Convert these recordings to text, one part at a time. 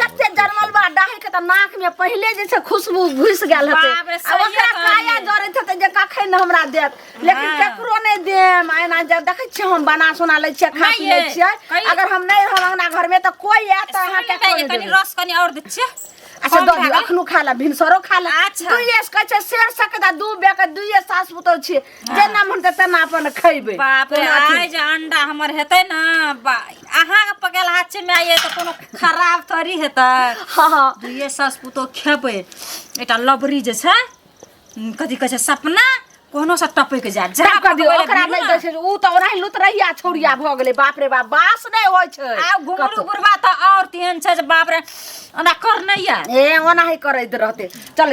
कते जरमल बा डाही के त नाक में पहिले जे छै खुशबू घुस गेल हते बाप रे, आ ओकरा सहिए काया कहलियै। जरत हते जे कखन हमरा देत लेकिन हाँ। केकरो नहि देम एना जे देखै छियै हम बना सोना लै छियै खा माय पी लै ये, छियै कही- अगर हम नहि रहब अंगना घर में त कोई आयत त अहाँ के कनी कनी रस कनी और दे छियै अच्छा कम दऽ भए दियौ गेल। अखनो खा ले भिनसरो खा ले अच्छा। दुइए से कहै छै शेर सकदा दू बेके दुइए सास पुतौ छियै जेना मन तऽ तेना अपन खैबै बाप रे कोना आइ जे अंडा हमर हेतै ने बा अहाँके पकायल हाथ छै माय ये तऽ कोनो खराब थोड़ी हेतै हँ हँ दुइये सास पुतोह खेबै एकटा लबरी जे छै उम, कथी कहै छै सपना कोनो से टपैक जायत जा सब कभी पकबै लए ओकरा भिड़ू नहि ने। दै छै ओ तऽ ओनाही लुतरैया छौरिया भऽ गेलै बाप रे बाप बास नहि होइ छै आ घुमरू कतौ। गुरबा तऽ आओर तेहन छै जे बाप रे ओना कर नहि आयल ए ओनाही करैत रहते चल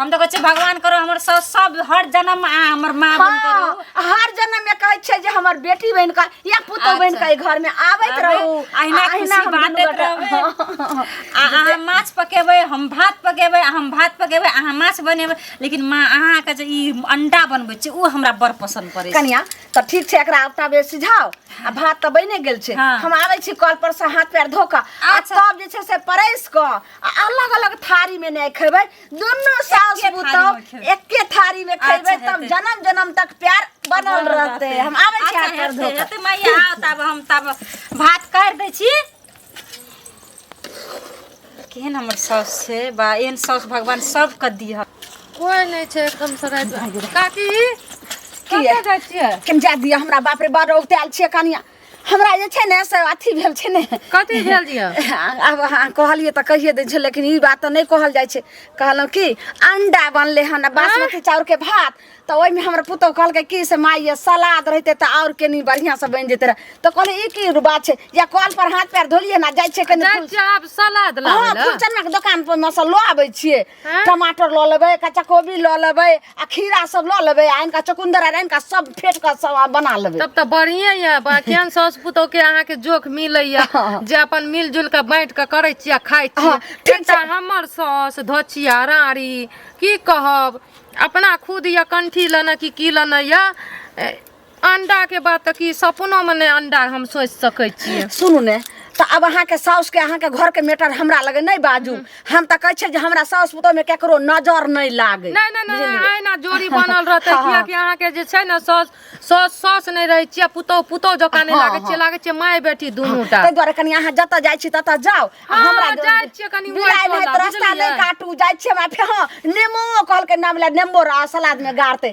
हम तो कहे भगवान करो हमर सब सब हर जन्म आ हमर माँ बन हाँ, करो हर जन्म में कहे छे जे हमर बेटी बन का या पुतो बन अच्छा। का घर में आवत आबे, रहू अहिना आ खुशी हम बाँटैत दुनू गोटा- रहबै। आ अहाँ माछ पकेबै हम भात पकेबै आ हम भात पकेबै अहाँ माछ बनेबै लेकिन माँ अहाँके जे ई अंडा बनबै छै ओ हमरा बड़ पसन्द पड़ै छै कनिया तो ठीक छे एकरा आबता बे सिझाओ आ भात तो बने गेल छे हाँ। हम आवे छी कल पर से हाथ पैर धो के आ अच्छा। तब जे छे से परस के आ अलग अलग थारी में नहीं खेबै दोनों सास एके थारी पुतौह में खेबै। एके थारी में खेबै अच्छा, तब हेतै। जन्म जन्म तक प्यार बनल रहते हम आबै छी अच्छा, हाथ कर हेतै, धो हेतै, मैया आउ तब हम तब भात काढ़ि दै छी केहन हमर साउस छै बा एहन साउस भगवान सबके दिह कोई नहीं छे एकदम से रात में। काकी किया? कतऽ जाइ छियै केम जा दिया हमरा बाप रे बड़ औते आयल छियै कनिया हमरा जे छै ने से अथी भेल छै ने कथी भेल दिया आब अहाँ कहलियै तऽ कहिए दै छै लेकिन ई बात तऽ नहि कहल जाइ छै कहलहुँ कि अंडा बनलै हन आ बासमती चाउरके भात तऽ ओहिमे हमर पुतहु कहलकै कि से माय ये सलाद रहिते तऽ आओर केनी बढ़िआँसँ बनि जेतै रहे तऽ कहलियै ई की बात छै या कल पर हाथ पैर धोलियै ने जाइ छै कनि जाइ फूल- छी आब सलाद हाँ, लाबै फूल चन्नाके दोकान पर मे से लऽ आबै छियै हाँ? टमाटर लऽ लेबै कच्चा कोबी लऽ लेबै आ खीरा सब लऽ लेबै आ इनका चुकुंदर आर इनका सब फेट कऽ सब आ बना लेबै तब तऽ बढ़िए यऽ बा- केहन साउस पुतोह के अहाँके जोख मिलैया हाँ। जे अपन मिलजुल के बाँट के करै छी आ खाइ छी हाँ, ठीक एकटा छै। हमर साउस धोचिया राँड़ी की कहब अपना खुद यऽ कंठी लेने कि की लेने यऽ ए, अंडा के बात त की सपनो में ने अंडा हम सोच सके छी सुनू ने तऽ आब अहाँके साउसके अहाँके घरके मेटर हमरा लगे नहि बाजू हम तऽ कहै छियै जे हमरा साउस पुतोहमे ककरो नजर नहि लागे नहीं नहीं नहीं आयना जोड़ी बनल रहते हाँ, किया कि अहाँ के जे छै ने सौस सौस सौस नहीं रहे छियै पुतौ पुतौ जका नहीं हाँ, लागे छियै हाँ। लागे छियै माय बेटी दुनू टा ताहि दुआरे कनि अहाँ जतऽ जाइ छी ततऽ जाउ आ हाँ, हमरा जाइ छियै कनि बिलाइ ओहि नहि टोला, तऽ रास्ता बुझलियै? नहि काटू जाइ छियै हमरा फेर हँ नेमो कहलकै नाम लए नेम्बो रह सलादमे गाड़तै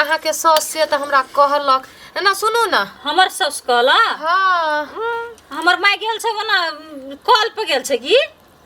अहाँके साउस से तऽ हमरा कहलक एना सुनू ने हमर साउस कहला हँ हमर माय गेल छै ओना कॉल पे गेल छै की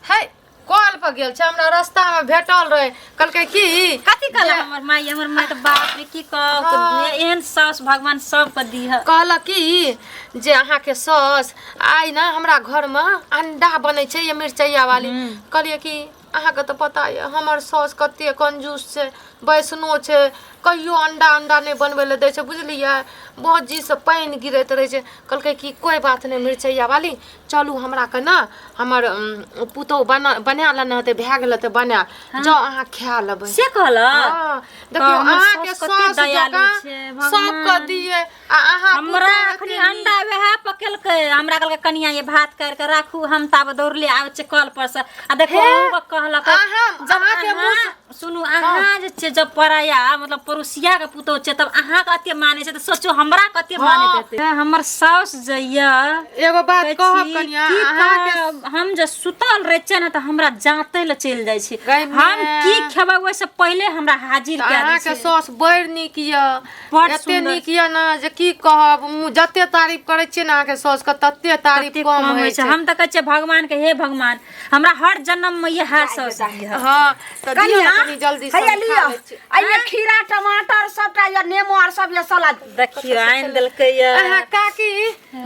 है कॉल पर गेल छै हमरा रास्ता में भेटल रहे कहलकै की कथी कहला जे- हमर माय हमर माय तऽ बाप रे की कहब हाँ। एहन साउस भगवान सबके दीह कहलक कि जे अहाँके साउस आइ ने हमरा घरमे अंडा बनै छै ये मिरचैया वाली कहलियै कि अहाँके तऽ पता यऽ हमर साउस कते कंजूस छै बैसनो छै कहियो अंडा अंडा नहि बनबै लए दै छै बुझलियै भौजीसँ पानि गिरैत रहै छै कहलकै कि कोइ बात नहि मिरचैया वाली चलू हमरा के ने हमर उम, पुतोहु बना बना लेने हेतै भए गेल हेतै बना जाउ अहाँ खा लेबै से कहलक हाँ, देखियौ हमर अहाँके साउस कते साउस दयालु जकाँ छै, भगवान। सबके दिए आ अहाँ हमरा पुतोह अखनी के अंडा वएह पकेलकै हमरा कहलकै कनिया ये भात काट के राखू हम ताब दौड़ले आबै छै कल पर से आ देखो हे, अहूँ कहलक अहाँ- जब अहाँ के अहाँ मुँह सुनू अहाँ जे छै जब पराया मतलब पड़ोसिया के पुतोह छै तब अहाँ के अते माने छै तऽ सोचो हमरा कते हँ। माने देतै हमर साउस जइया एगो बात कहै कहब छी, कनिया की अहाँ के कहब? हम जे सुतल रहे छै ने तऽ हमरा जाते ले चलि जाइ छै गइमे। हम की खेबै ओहिसँ पहिले हमरा हाजिर कए अहाँ दै के छै सौस बड़ नीक यऽ बड एते सुंदर नीक यऽ ने जे की कहब मु- जते तारीफ करै छियै ने अहाँके सौस के तते तारीफ कते कम होइ छै हम तऽ कहै छियै भगवान के हे भगवान हमरा हर जन्म में इएह सौस दिहऽ हाँ तऽ दियौ कनिया ने कनी जल्दी से हैया हम लिअ खा लै छी। एहिमे खीरा टमाटर सबटा यऽ नेमो आर सब यऽ सलाद देखियो आनि देलकै यऽ अहाँ काकी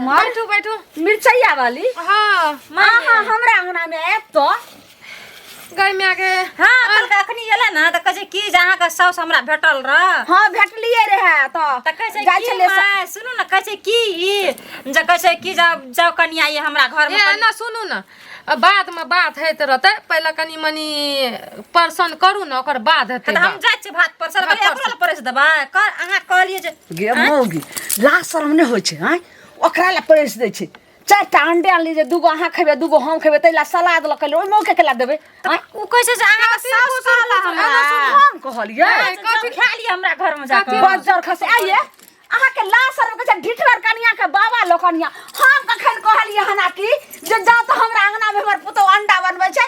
बैठू बैठू मिरचाइया वाली हाँ अहाँ हमरा अंगना में आयब तो गई माय के हाँ अपन के अखनी एला ना त कहे की जे अहाँ के साउस हमरा भेटल रह हां भेटलिए रहे त त कहे छै जाइ की छले स- माय सुनू न कहे छै की ई जे कहे छै की जाओ जाओ कनिया ये हमरा घर में ए कनि- ना सुनू ना अब बाद में बात हैत रहते पहले कनी मनी पर्सन करू ना ओकर बाद हेतै त हम बात। जाइ छी भात पर सर भात पर एकरो ल परस देबा कर अहाँ कहलिए जे गे मौगी लाज शरम नहि होइ छै आँय ओकरा लए परेस दै छै चारिटा अंडे आनली जे दूगो अहाँ खेबै दूगो हम खेबै ताहि लए सलाद लऽ कऽ ओहिमे के केला देबै आँय? उ कैसे से अहाँ के सास कहला हमरा हम कहलियै कथी खा ली हमरा घर में जाकर बजर खसे आइए अहाँ के लाश आर के ढिठगर कनिया के बाबा लोकनिया हम कखन कहलियै हना कि जे जा तो हमरा अंगना में हमर पुतौ अंडा बनबै छै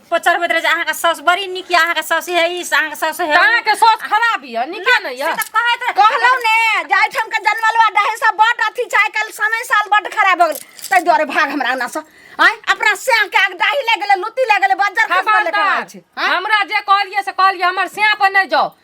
पचरबैत रहे अहाँ के सास बड़ी निक अहाँ के सास है इस अहाँ के सास है अहाँ के सास खराब है निके न या कहत कहलौ ने जाय ठम के जनमलवा डहे सब बट अथी चाहे कल समय साल बट खराब हो गेल तै द्वारे भाग हमरा ना से आय अपना से के आग डाही ले गेले लुती ले गेले बजर खबर ले हमरा जे कहलिए से कहलिए हमर से पर नै जाओ